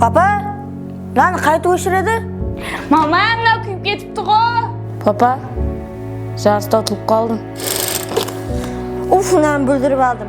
Papa, nanı qaytıp óshiredi? Mama, mınau kúyip ketipti-ǵo! Papa, jarısta utılıp qaldım. Uf, nanı búldirip aldım.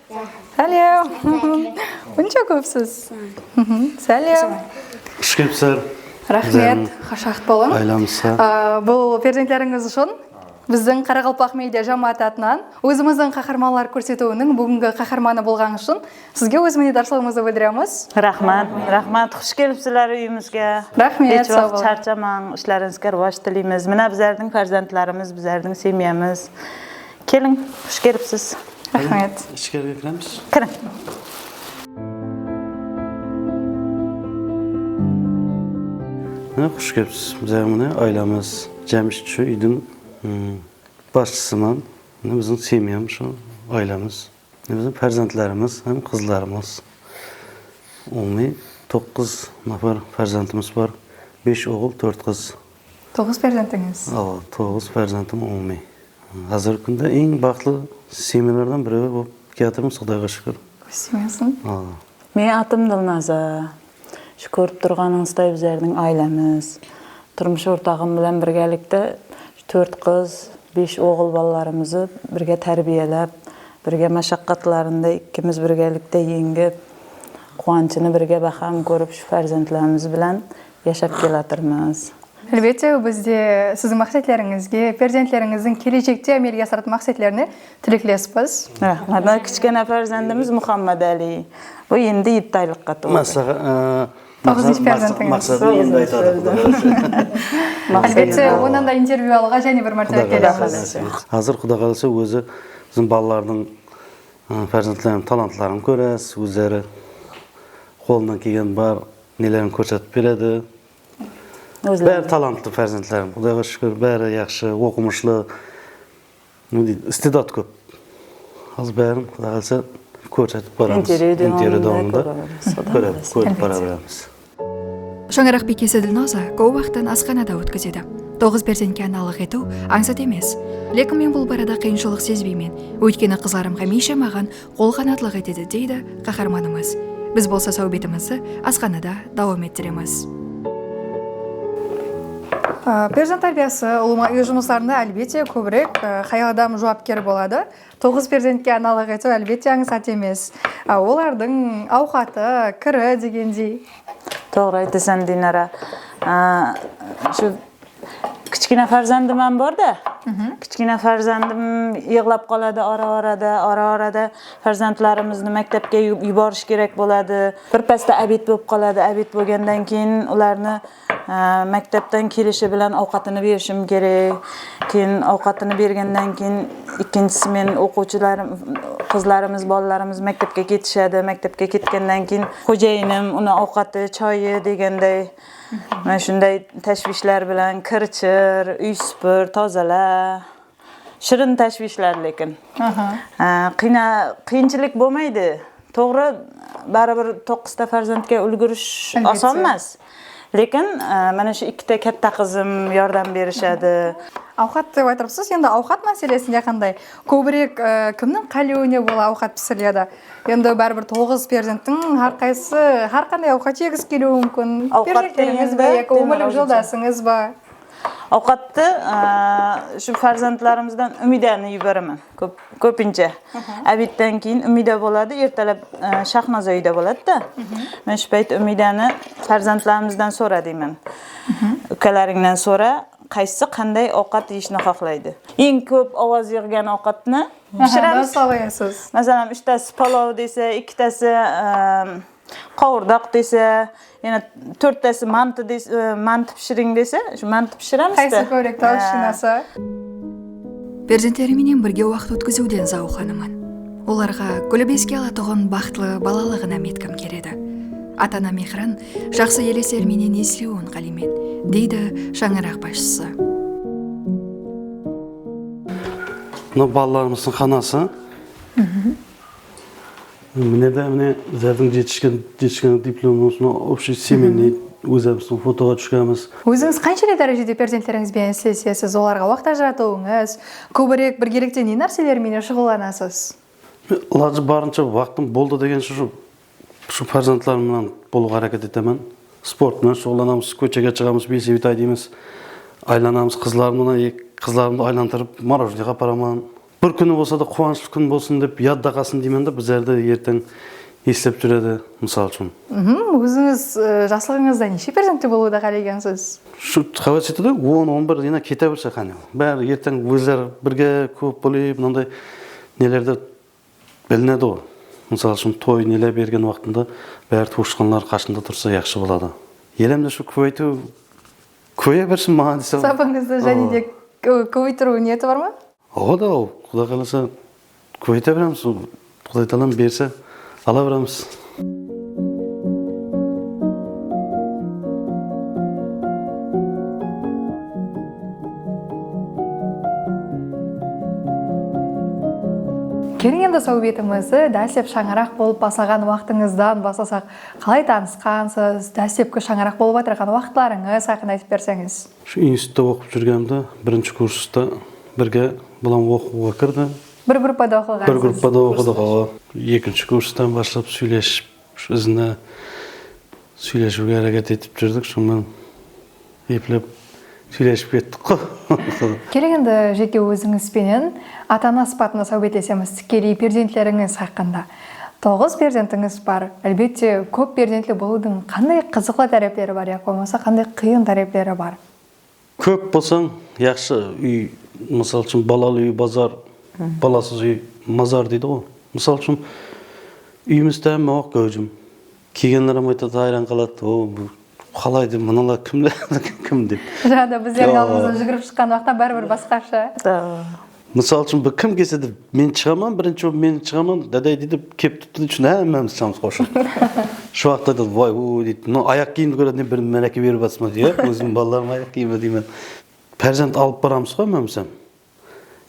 Sálem. Bunsha kópsiz. Sálem. Xush kelipsizler. Raxmet. Xush waqıt bolıń. Aylanıssa. Bul perzentlerińiz ushın biziń Qaraqalpaq media jámááti atınan ózimizdiń qaharmanlar kórsetiwiniń búgingi qaharmanı bolǵańız ushın sizge óz minnetdarshılıǵımızdı bildiremiz. Raxmat. Raxmat. Xush kelipsizler úyimizge. Raxmet. Hesh waqıt sharshamań. Islerińizge ruwaj tileymiz. Mına bizlerdiń perzentlerimiz, bizlerdiń semyamız. Keliń, xush kelipsiz. Raxmet. Ishkerge kiremiz. Kiriń. Mine, xush kelipsiz. Bizdegi mine aylamız jámshit usı úydiń basshısıman, mine biziń semyamız usı aylamız. Biziń perzentlerimiz hám qızlarımız, umumiy toqqız napar perzentimiz bar, besh oǵıl, tórt qız. Toǵız perzentińiz? Awa, toǵız perzentim umumiy. Házirgi kúnde eń baxıtlı semyalardan birewi bolıp kiyatırmız, Qudayǵa shúkir. Kóz tiymesin. Awa. Meniń atım Nurnaza. Usı kórip turǵanıńızday bizlerdiń áylemiz, turmıs ortaǵım bilen birgelikte tórt qız, besh oǵıl balalarımızdı birge tárbiyelep, birge mashaqqatlarında ikkimiz birgelikte eńgip, quwanshını birge báxrán kórip usı perzentlerimiz bilen yashap kelatırmız. Álbette, biz de siziń maqsetlerińizge, perzentlerińizdiń kelejekte ámelge asıratuın maqsetlerine Tileklespız. Mına kichkene perzendimiz Muxammadali. Bul endi yetti aylıqqa toldı. Toǵızınshı perzentińiz. Maqsatın endi aytadı Quday qalasa. Álbette, onnan da intervyu alıwǵa jáne bir mártebe kelemiz. Házir Quday qalasa ózi biziń balalardıń perzentleriniń talantların kóresiz, ózleri qolınnan kelgen bar nelerin kórsetip beredi. Bári talantlı perzentlerim, Qudayǵa shúkir, bári yaqshı, oqımıshlı. Ne deydi, istedat kóp. Házir bárin Quday qalasa kórsetip baramız. Intervyu dawamında kóremiz, kórip bara beramız. Shańaraq bekesi Dilnoza kóp waqtın asxanada ótkizedi. Toǵız perzentke analıq etiw ańsat emes. Lekin men bul barada qıyınshılıq sezbeymen. Óytkeni qızlarım hámiyshe maǵan qol-qanatlıq etedi, deydi qaharmanımız. Biz bolsa sáwbetimizdi asxanada dawam ettiremiz. Perzent tárbiyası ulıwma úy jumıslarında álbette kóbirek hayal adam juwapker boladı. Toǵız perzentke analıq etiw álbette ańsat emes. Olardıń awqatı, kiri degende. Toǵrı aytasan Dinara. Kichkina farzandım ham bor da kichkina farzandım yıǵlap qaladı ara arada ara arada farzantlarımızdı mektepke yuborish kerek boladı bir pasta abit bolıp qaladı abit bolgandan keyin ulardı mektepten kelishi bilan awqatını berishim kerek keyin awqatını bergenden keyin ekinsisi meniń oqıwshılarım qızlarımız balalarımız mektepke ketishadi mektepke ketkenden keyin xojainim unı awqatı choyı degendey Mine ushınday táshwishler bilen kir shir, úy súpir, tozala. Shirin táshwishler lekin. Qıyınshilik bolmaydı. Toǵrı, báribir toqısta farzentke úlgirish oson emas. Lekin mana ushi ikkita katta qızım yordam berishadı. Awqat dep aytırıpsız, endi awqat máselesinde qanday? Kóbirek kimniń qálewine bola awqat pisiriledi? Endi báribir toǵız perzenttiń hár qaysısı hár qanday awqat jegisi keliwi múmkin. Perzentlerińiz be yaki ómirlik joldasıńız ba? Awqattı ushın perzentlerimizden Úmiydani júberemen kópinshe. Ábidten keyin Úmiyda boladı, ertalab Shahnoza úyde boladı da. Men ushı payt Úmiydani perzentlerimizden sora deymen. Úkelerińnen sora, Qaysı qanday awqat yeyishni xohlaydı? Eń kóp awaz bergen awqatni pishiramız. Dárhal ayaysiz. Masalan, úsh tası palaw dese, eki tası qawırdaq dese, yana tórt tası mantı pishiring dese, mantı pishiramız da. Qaysı kórek talshınasa. Perzentlerim menen birge waqıt ótkiziwden zawıqlanaman. Olarǵa gúlip eske alatuǵın baxıtlı balalıǵınam etkim keledi. Ata-ana mehrin jaqsı elesler menen esliwin qáleymen, deydi shańaraq basshısı. Mına balalarımızdıń xanası. Mine de mine bizlerdiń jetishken jetishken diplom osınau obshiy semenniy ózara biz fotoǵa túskemiz. Ózińiz qansheley dárejede perzentterińiz benen islesesiz, olarǵa waqıt ajıratıuıńız, kóbirek birgelikte ne nárseler menen shuǵıllanasız? Men ilajı barınsha waqıtım boldı degen shı Usı perzentlerim menen bolıq areket etemen. Sport menen shuǵıllanamız, kóshege shıǵamız, besibi tay deymiz, aylanamız, qızlarım menen eki qızlarımdı aylantırıp morojneyǵa aparaman. Bir kúni bolsa da quwanıshlı kún bolsın dep yadda qalsın deymen da bizlerdi erteń eslep júredi mısal ushın. Ózińiz jaslıǵıńızda neshe perzentli bolıwdı qálegensiz? Usı qáwet sóytedi ǵoy on on bir ena kete berse qáne bári erteń ózleri birge kóp bolıp mınanday nelerdi Bilinedi-ǵo, mısal ushın, toy nele bergen waqtında bári tuwısqanlar qashında tursa yaqshı boladı. Elemde shu kóbeytiw kóbeye bersin maǵan dese. Sapıńızdı jáne de kóbeytiriw niyeti bar ma? Oǵo da ol, Quday qalasa kóbeyte beremiz, Quday talam berse ala beremiz. Keliń endi sáwbetimizdi dáslep shańaraq bolıp baslaǵan waqtıńızdan baslasaq. Qalay tanısqansız, dáslepki shańaraq bolıp atırǵan waqıtlarıńız haqqında aytıp berseńiz? Usı institutta oqıp júrgendi birinshi kursta birge bulam oqıwǵa kirdi. Bir gruppada oqıǵansız. Bir gruppada oqıdıǵo. Ekinshi kurstan baslap sóylesip izine sóylesiwge háreket etip júrdik sonnan eplep sóylesip kettikqo. Keling endi jeke ózińiz penen ata ana sıpatında sáwbetlesemiz tikkeley perzentlerińiz haqqında. Toǵız perzentińiz bar. Álbette kóp perzentli bolıwdıń qanday qızıqlı tárepleri bar yaq bolmasa qanday qıyın tárepleri bar? Kóp bolsań yaqshı úy mısal ushın balalı úy bazar balasız úy mazar deydi ǵo mısal ushın úyimiz támi oq gáwjim kelgenlerem aytadı hayran qaladı o bul qalay dep mınalar kimler kim dep. Jaǵda bizlerdiń aldımızdan júgirip shıqqan uaqıta báribir basqasha. Mısal ushın bir kim kelse de men shıǵaman birinshi bolıp men shıǵaman daday deydi kelip turıptı deydi shunda hámmemiz shıǵamız qosılıp shol uaqıtta aytadi vay uy deydi mınau ayaq kiyimdi kóredi ne bir máráke berip atırsan ba deydi iyá ózimniń balalarımnıń ayaq kiyimi deymen párzamt alıp baramız ǵoy hámmemiz hám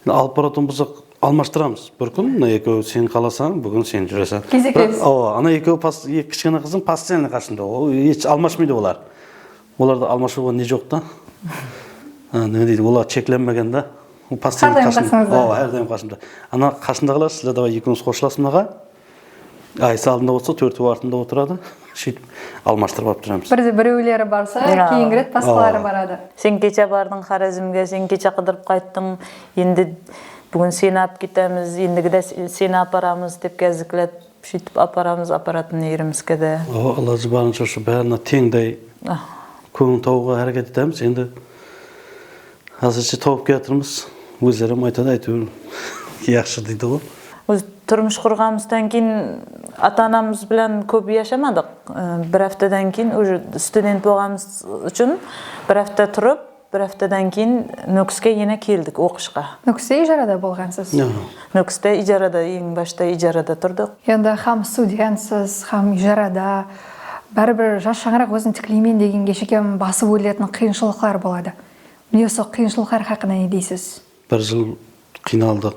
endi alıp baratuǵın bolsaq almashtıramız bir kún mına ekeui sen qalasań búgin sen júreseń kezeklesiz awa ana ekeui eki kishkena qızım postoyanno qasımda ol eshit almashpaydı olar Olardı almashiwǵa ne joq ta nime deydi olar cheklenbegen da postoyno qasımda oa hár dayım qasımda ana qasındaǵılar sizler davay ekewiniz xoshlasın aǵa aysi aldında otursa tórteui artında oturadı sheytip almashtırıp alıp juramız birde bireuleri barsa keyingi ret basqaları baradı sen kecha bardıń xorezmge sen kecha qıdırıp qayttıń endi búgin seni alıp ketemiz endigi de seni aparamız dep gaziklet. Sóytip aparamız aparatın erimiz kedi. Awa ilajı barınsha usı barına teńday kóńil tawıwǵa háreket etemiz endi azirshshe tawıp kiyatırmız ózlerem aytadı aytewir yaqshı deydiǵo. Óz turmıs qurǵanımızdan keyin ata anamız bilan kóp yashamadıq bir aptadan keyin uja student bolǵanımız ushın bir apta turıp Bir haftadan keyin Nókiske ena keldik oqıshqa. Nókiste ijarada bolǵansız? Nókiste ijarada, eń bashta ijarada turdıq. Endi hám studentsiz, hám ijarada, báribir jas shańaraq ózin tikleymen degenge shekem basıp óletiń qıyınshılıqlar boladı. Mine usı qıyınshılıqlar haqqında ne deysiz? Bir jıl qıynaldıq,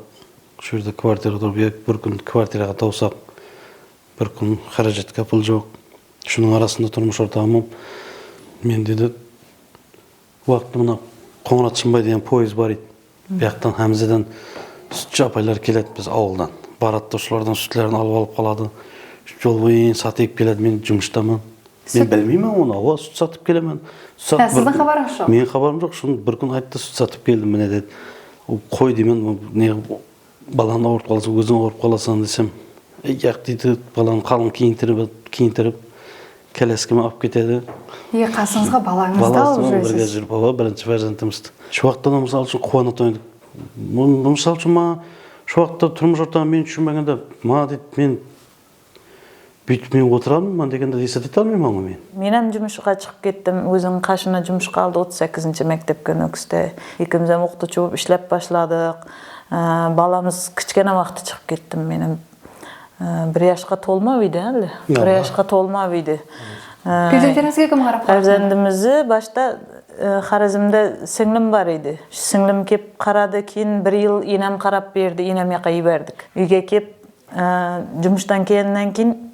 usı jerde kvartirada turıp edik, bir kún kvartiraǵa tawsaq, bir kún xárajatqa pul joq. Usınıń arasında turmıs ortaǵım mende de Uaqıt mına Qońırat Shımbay degen poezd bar edi. Buyaqtan Hámzeden sútshi apaylar keledi biz awıldan. Baradı da usılardan sútlerin alıp alıp qaladı. Jol boyın satıp keledi men jumıstaman. Men bilmeyman onı awa sút satıp kelemen. Há sizdiń xabarıńız joq. Meniń xabarım joq. Sonı bir kún ayttı sút satıp keldim mine dedi. Qoy deymen ne. Balan awırıp qalsa óziń awırıp qalasań desem, yaq deydi, balanı qalıń kiyintirip kiyintirip kolyaskama alıp ketedi. Iye qasıńızǵa balańızdı alıp júresiz. Bala birge júrip awa birinshi perzentimiz. Shuwaqtada mısal ushın quwanatın edik. Mısal ushın maǵan shuwaqta turmıs ortaǵı men tushınbaganda maǵan deydi men Búytip men otıramın ban degende esetete almayman ǵo men. Menem jumısshıǵa shıǵıp kettim, óziniń qashına jumısshıǵa aldı otız sekizinshi mektepke nókisti. Ekemizem oqıtıwshı bolıp ishlep bashladıq. Balamız kishkene waqtı shıǵıp kettim menem. Bir yashqa tolmap eydi áli. Bir yashqa tolmap eydi. Perzenteringizge kim qarap baqtı? Perzendimizdi bashta Xorezmde sińlim bar eydi. Sińlim kep qaradı, keyin bir yıl enem qarap berdi, enem jaqqa jiberdik. Úyge kep Jumıstan kelinen keyin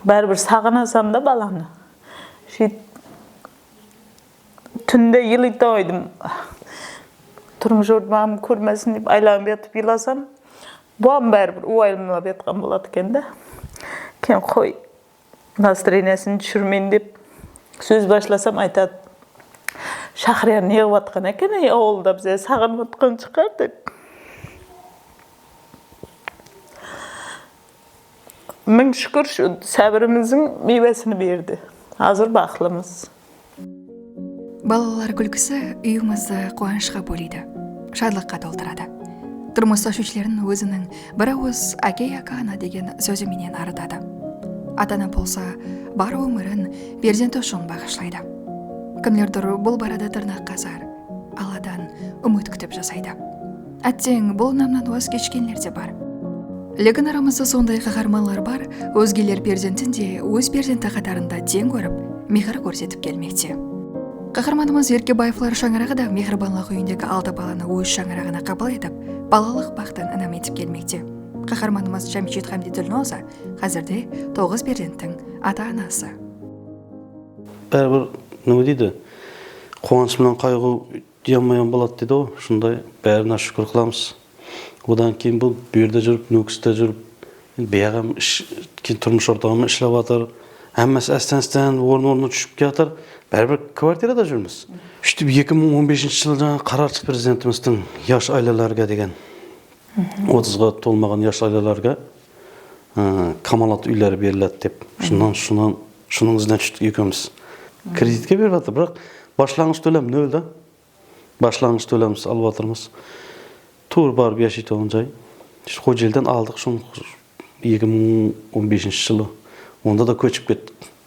bári bir saǵınasan da balanı sóyt túnde elitau aydım turmıs jordımı kórmesin dep aylanıp yatıp elasam buam bári bir uayımlap yatkan boladı eken da keyin qoy Nastreniyasin túsirmeyin dep sóz bashlasam aytad Shaxriya neǵip atqan eken ey auılda bize saǵınıp atqan shıǵar dep Ming shúkir shu sábirimiziń miywesin berdi azir baqlımız. Balalar kúlkisi úyimizi quwanıshqa bóleydi, shadlıqqa toltıradı. Turmıs táshwishlerin óziniń bir awız Ákey aka ana degen sózi menen arıtadı. Ata-ana bolsa bar ómirin perzenti ushın baǵıshlaydı. Kimlerdur bul barada tırnaq qazar, Alladan úmit kútip jasaydı. Átteń, bul unamnan waz keshkenler de bar. Lekin aramızda sonday qaharmanlar bar, ózgeler perzentin de óz perzenti qatarında teń kórip, mehir kórsetip kelmekte. Qaharmanımız Erkebaevlar shańaraǵı da Mehribanlıq úyindegi altı balanı óz shańaraǵına qabıl etip, balalıq baxtın inam etip kelmekte. Qaharmanımız Jámshet hámde Dilnoza házirde toǵız perzenttiń ata-anası. Báribir, nime deydi, quwanısh penen qayǵıw Uyanmayan boladı deydi ǵo usınday bárine shukir qılamız odan keyin bul buyerda jurip nókiste jurip endi buyaǵam keyin turmıs ortaǵıma ishlap atır hámmesi ástan ástan orın ornına tuship kiyatır báribir kvartirada jurmiz úshitip eki mıń on beshinshi jılı jańa qarar shıqtı prezidentimizdiń yash ailelerge degen otızǵa tolmaǵan yash ailelerge Kamalat úyleri beriladi dep shunnan shunnan shunıń izinen tústik ekewmiz kreditke berip atır biraq bashlanǵısh tólem nol da bashlanǵısh tólemiz alıp atırmız tuwrı barıp yashaytuǵın jay shol jerden aldıq shunıń eki mıń on beshinshi jılı onda da kóship kettik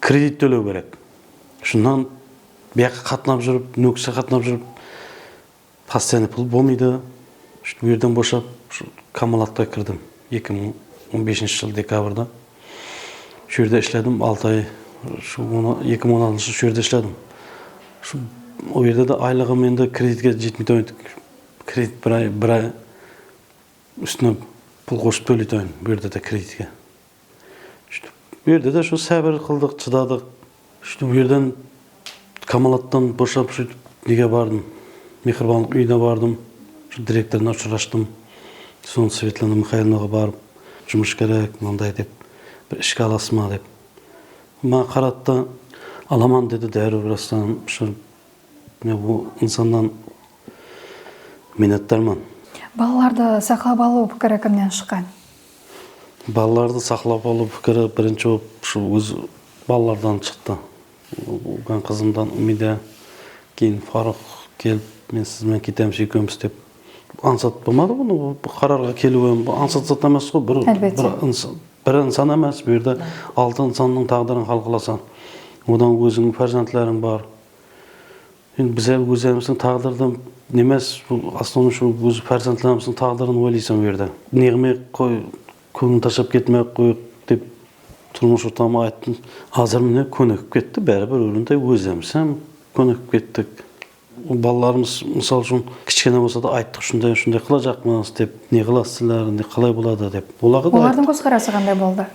Kredit tóleu kerek. Shunnan buyaqqa qatnap júrip, nókishe qatnap júrip postoyannoy pul bolmaydı. Shúytip uyerden boshap usı Kamolatqa kirdim. Eki mıń on beshinshi jıl dekabrda shuyerde ishledim altı ay. Usı eki mıń on altınshı shuyerde ishledim. Usı oyerde de aylıǵım endi kreditke jetpey tuǵın etik. Kredit bir ay bir ay ústine pul qosıp tóley tuǵın buyerde de kreditke. Shıtip bu yerde de shu sábir qıldıq, shıdadıq. Shıtip bu yerden Kamalattan boshap sóytip nege bardım, Mehribanlıq úyine bardım. Shul direktorına ushırastım. Sonı Svetlana Mixailovnaǵa barıp, jumıs kerek, mınanday dep, bir ishke alasız ma dep. Ol maǵan qaradı da, alaman dedi dárriw birastan ushırıp. Men bul insannan minnetdarman. Balalardı saqlap alıw pikiri kimnen shıqqan? Balalardı saqlap alıw pikiri birinshi bolıp usı óz balalardan shıqtı. Ulkan qızımdan Umida, keyin Farux kelip, men siz benen ketemiz ekewmiz dep ańsat bolmadı bunı, bul bir qararǵa keliw em bul ańsat zat emes qoy, bir bir insan emes, bul jerde altı insannıń taǵdırın hal qılasań. Odan ózińniń párzentleriń bar. Endi biz el ózlerimizdiń taǵdırdım nemes bul osnovnıy shu ózi perzentlerimizdiń taǵdırın oylaysan bu yerde neǵime qoy kóńlin tashlap ketmey aq qoyıq dep turmıs ortama ayttım azır mine kónikip ketti bári bir ólinday ózlerimiz hem kónikip kettik ol balalarımız mısal ushın kishkene bolsa da ayttıq ushınday ushınday qılajaqmız dep neǵılasızlar indi qalay boladı dep olarǵa da ayttıq. Olardıń kózqarası qanday boldı?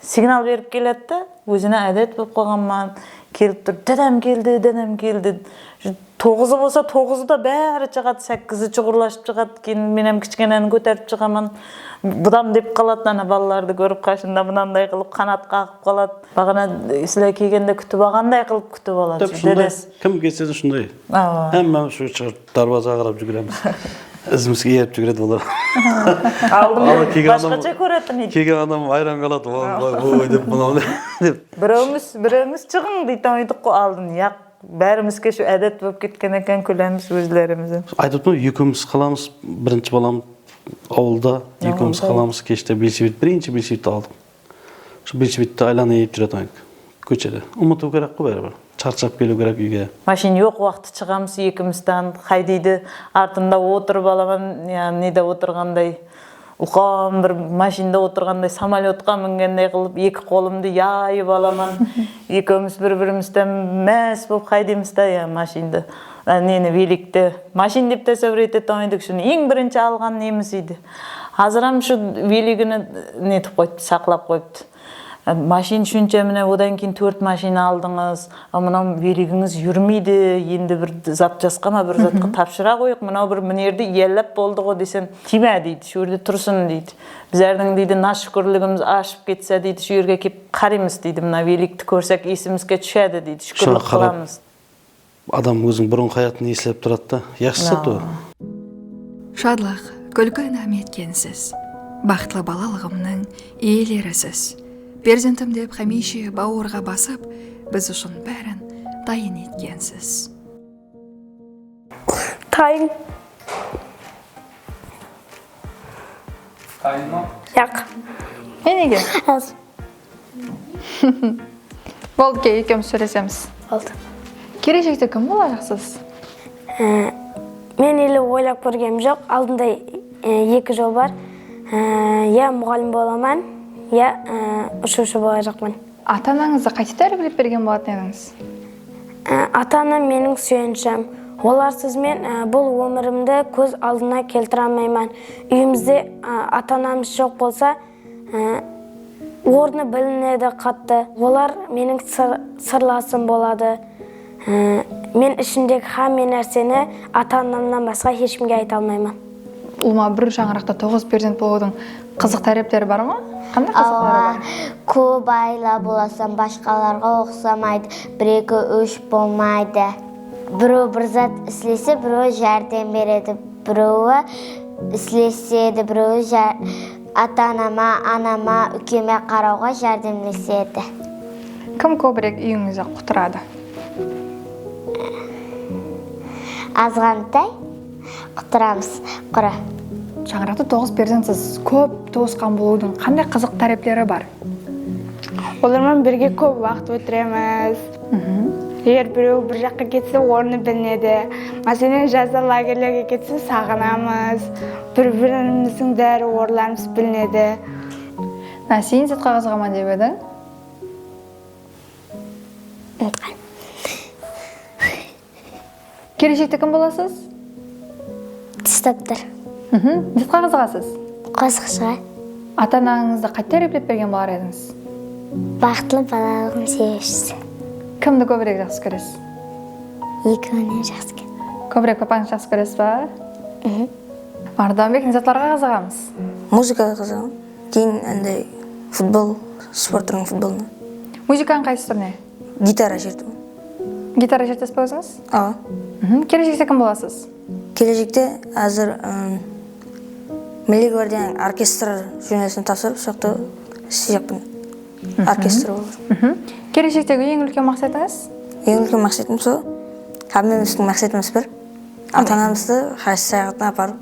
Signal berip keledi de, ózine ádet bolıp qalǵan ma, kelip turıp, dádám keldi, dádám keldi. Toǵızı bolsa toǵızı da bári shıǵadı, sákkizi shuǵırlashıp shıǵadı, keyin men hám kishkeneni kóterip shıǵaman. Budam dep qaladı, ana balalardı kórip qashında bunanday qılıp qanat qaǵıp qaladı. Baǵana sizler kelgende kútip alǵanday qılıp kútip aladı dedesi. Kim kelse de shunday. Ámma shu shıǵarıp. Darwazaǵa qarap júgiremiz. Izimizge erip júgiredi olar. Aldımda basqacha kóretuǵın edik. Kelgen adam hayran qaladı, oy dep mınaw ne dep. Birewimiz birewimiz shıǵıń deytuǵın edik ǵoy aldın. Yaq, bárimizge shu ádet bolıp ketken eken kúlemiz ózlerimiz. Aytıptım, ekewimiz qalamız, birinshi balam awılda, ekewimiz qalamız, keshte velosiped, birinshi velosipedti aldım. Usı buyt buytti aylana yeyip júre tuǵayıq kóshede umıtıu kerek qo báribir sharshap keliu kerek uyge. Mashin yoq waqtı shıǵamız ekimiz tan xay deydi artında otırıp alaman ya nede otırǵanday ulqan bir mashinda otırǵanday samolyotqa mingendey qılıp eki qolımdı yayıp alaman ekeuimiz bir birimizden más bolıp xay deymiz da ya mashindı neni velikti mashin dep tasavvur etetuǵan edik ushın eń birinshi alǵan nemiz eydi. Haziram shu veligini netip qoyıptı saqlap qoyıptı mashin shuncha mine odan keyin tórt mashin aldıńız a mınau veligińiz jurmeydi endi bir zat jasqama bir zatqa tapshıra qoyıq mınau bir minerdi iyallap boldıǵo desem tiyma deydi shu jerde tursın deydi bizardiń deydi nashukirligimiz ashıp ketsa deydi shu jerge kelip qariymiz deydi mına velikti kórsek esimizge tushadi deydi shukrlik qılamız. Adam óziniń burınǵı hayatın eslep turadı da, yaxshi zat ol. Shadlıq, kúlki inam etken siz. Baxıtlı balalıǵımnıń iyeleri siz. Perzentim dep xámiyshe bawırǵa basıp, biz ushın bárin tayın etken siz. Tayın. Tayın ma? Jaq. Enege. Boldı ke ekewmiz sóylesemiz. Boldı. Keleshekte kim bolajaq siz? Men ele oylap kórgenim joq, aldımda eki jol bar, ya muǵallim bolaman, ya ushıwshı bolajaqman. Ata anańızdı qaytip tárbiyelep bergen bolatuın edińiz? Ata anam meniń súyenishim, olarsız men bul ómirimdi kóz aldına keltire almayman, úyimizde ata anamız joq bolsa, Ornı bilinedi qattı. Olar meniń sırlasım boladı. Men ishimdegi hámme nárseni ata-anamnan basqa heshkimge ayta almayman. Ulıwma bir shańaraqta toǵız perzent bolıwdıń qızıq tárepleri bar ma? Qanday qızıqları bar? Awa, kóp ayla bolasań, bashqalarǵa uqsamaydı, bir-eki, úsh bolmaydı. Birew bir zat islese, birewi járdem beredi, birewi islesedi, birewi. Ata-anama, anama, úkeme qarawǵa járdemlesedi. Kim kóbirek úyińizdi qutıradı? Azǵantay qutıramız, qura. Shańaraqta toǵız perzentsiz, kóp tuwısqan bolıwdıń qanday qızıq tárepleri bar? Olarman birge kóp waqıt ótiremiz. Eger birewi bir jaqqa ketse, ornı bilinedi. Máselen, jazda lagerlerge ketse, saǵınamız. Bir birimizdiń bári orlarımız bilinedi. Mine sen zet qaǵazǵa ma dep ediń. Umıtqan. Keleshekte kim bolasız? Tish doktor. Mhim. Zet qaǵazǵa siz? Qosıqshıǵa. Ata anańızdı qátte replep bergen bolar edińiz? Baxıtlı balalıǵım sebepshisi. Kimdi kóbirek jaqsı kóresiz? Ekeuinen jaqsı kórem. Kóbirek papańızdı jaqsı kóresiz ba? Ardan bek ne zatlarǵa qızıǵamız? Muzıkaǵa qızıǵamın. Keyin anday futbol, sport túriniń futbolına. Muzıkanıń qaysı túrine? Gitara shertimen. Gitara shertesizbe ózińiz? Awa. Keleshekte kim bolasız? Keleshekte házir Milliy gvardiyanıń orkestr jumesine tapsırıp soyaqta isleyjekpin. Orkestr bolıp. Keleshektegi eń úlken maqsetıńız? Eń úlken maqsetim sol. Hámmemizdiń maqsetimiz bir. Ata-anamızdı haj sayaxatına aparıp.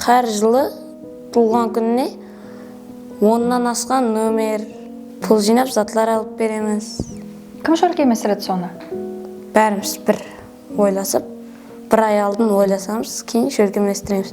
Hár jılı tuwılǵan kúnine onnan asqan nomer, pul jıynap zatlar alıp beremiz. Kim shólkemestiredi sonı? Bárimiz bir oylasıp, bir ay aldın oylasamız, keyin shólkemestiremiz.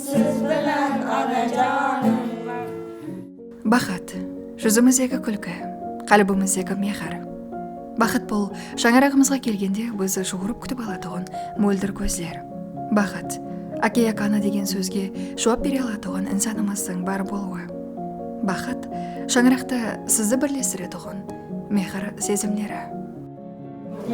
Siz bilen Anajanım. Baxıt, júzimizdegi kúlki, qálbimizdegi mehir. Baxıt bul, shańaraǵımızǵa kelgende bizi juwırıp kútip alatuǵın móldir kózler. Baxıt, Áke-Ákanı degen sózge juwap bere alatuǵın insanımızdıń bar bolıwı. Baxıt, shańaraqta sizdi birlestiretuǵın mehir sezimleri.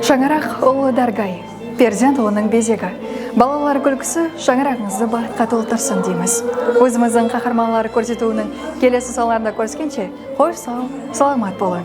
Shańaraq ullı dárgay, perzent onıń bezegi. Balalar gúlkisi shańaraǵıńızdı baxıtqa toltırsın deymiz. Ózimizdiń qaharmanları kórsetiwiniń kelesi sanlarında kóriskenshe, xosh saw, salamat bolıń!